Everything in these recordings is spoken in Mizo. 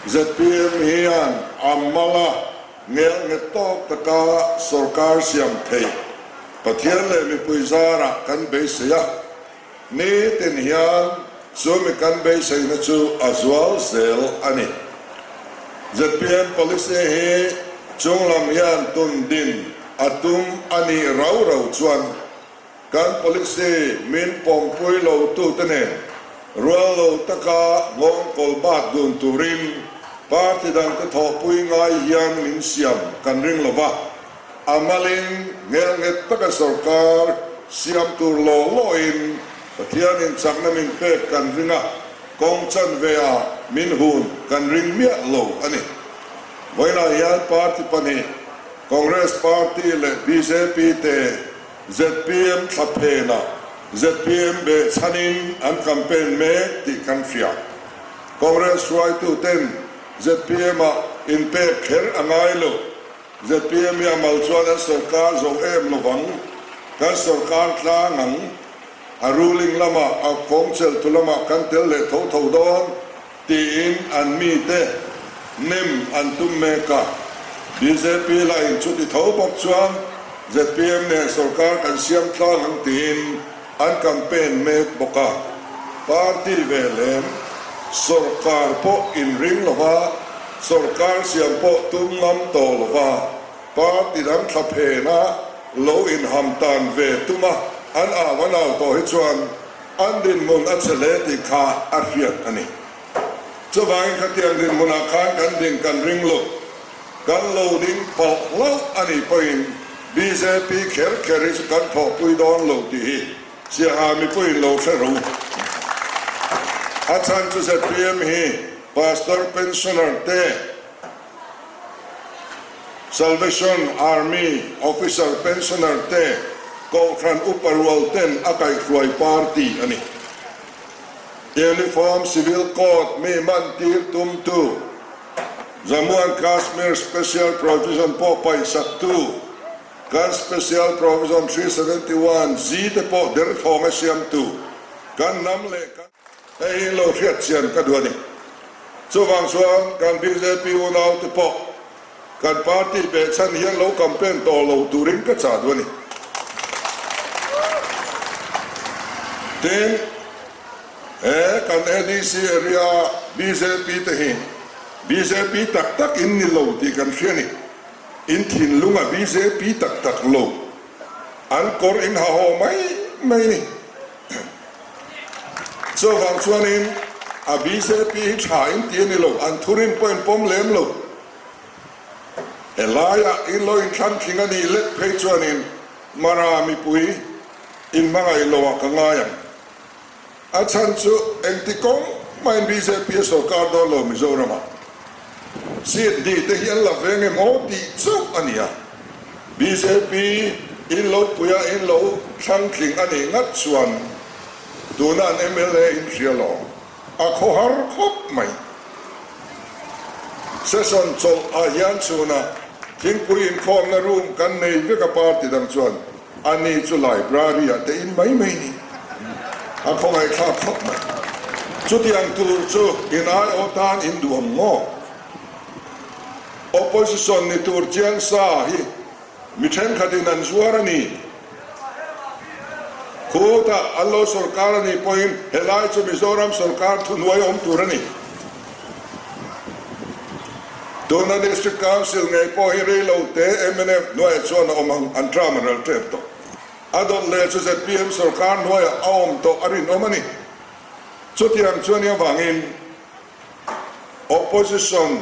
Zpm hian a hmanga ngelh nghet tawk taka sorkar siam theih Pathian leh mipui zarah kan beisei a, nitin hian chu mi kan beiseina chu a zual zel a ni. Zpm policy hi chunglam hian tun din a tum a nih rau rau chuan Kan policy min pawmpui lotute nen rual lo taka nghawng kawl bat dun turin party dangte thawhpui ngai hian min siam kan ring lo va, a malin hmelnghet taka sorkar siam tur law lawin Pathian inchakna min pek kan ring a, kawng chanveia min hun kan ring miah lo a ni. Vawiinah hian party pahnih, Congress party leh bjp te, Zpm thla phena zpm beh chhanin an campaign mek tih kan hriat. Congress hruaituten zpm ah inpek kher a ngai lo. Zpm i a mal chuan an sorkar zo em lovang, kan sorkar tlang ang. A ruling lamah, a kawngchel tu lamah kan tel leh tho tho dawn. Tiin an mite nem an tum mek a. Bjp la in chuti tho bawk chuan zpm nen sorkar kan siam tlang ang tiin an campaign mek bawk a. Party veh lem, sorkar pawh in ring lo va, sorkar siam pawh tum ngam tawh lo va, party dang thla phenah lo in ham tan ve tum a. An au an au tawh hi chuan An rinhmun a che hle tih kha a hriat a ni. Chuvangin khatiang rinhmunah khan kan din kan ring lut, kan lo ding palh hlauh a nih pawhin bjp kher kher hi chu kan thawhpui dawn lo tih hi Siaha mipuiin lo hre rho. A chhan chu zpm hi Pastor Pensioner te, Salvation Army Officer Pensioner te Kohhran upa rual ten a kaihhruai party a ni. Uniform Civil Code mi manttir tum tu, Jammu and Kashmir Special Provision pawh paih sak tu, kan Special Provision three seventy one G te pawh derthlawng a siam tu, kan hnam leh kan. Hei hi lo hriatchian ka duh a ni. Chuvang chuan kan bjp unau te pawh kan party beh chhan hian lo campaign tawh lo turin ka chah duh a ni. Tin, he kan NEC area bjp te hi bjp tak tak in ni lo tih kan hria ni. In thinlunga bjp tak tak lo an kawr in ha haw mai mai ni. Chuvang chuanin a bjp hi tha in ti ani lo, an thu rin pawhin pawm lem lo. Helaiah i lo in thlan thling anih leh phei chuanin Mara mipui in hmangaih lo ah ka ngai ang. A chhan chu engti kawng mahin bjp a sawrkar dawn lo Mizoram ah. Chhiat nih te hi an la veng em aw tih chauh a nia. Bjp in lo pui a in lo thlang tling a nih ngat chuan tuna an mla in hria lo a khaw har khawp mai. Session chawlh ah hian chhun ah thingpui inkhawmna room kan nei vek a party dang chuan. Ani chu library-ah tein mai mai ni a khawngaihthlak khawp mai. Chutiang tur chu inaiawh tan induam maw? Opposition ni tur chiang sa hi mi thenkhatin an zuar a ni. Khutah an lo sawrkar a nih pawhin helai chu Mizoram sawrkar thuhnuai a awm tur a ni. Tun a District Council ngei pawh hi reilo te mnf hnuaiah chuan a awm ang, an ṭam a rel ṭep tawh. A dawt leh chu zpm sawrkar hnuaiah a awm tawh a rinawm a ni. Chutiang chuan i avangin Opposition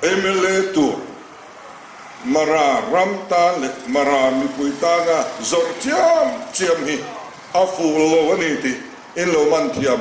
mla tur Mara ram tan leh Mara mipui tana zawrh chiam chiam hi a ful lo a ni tih in lo man thiam.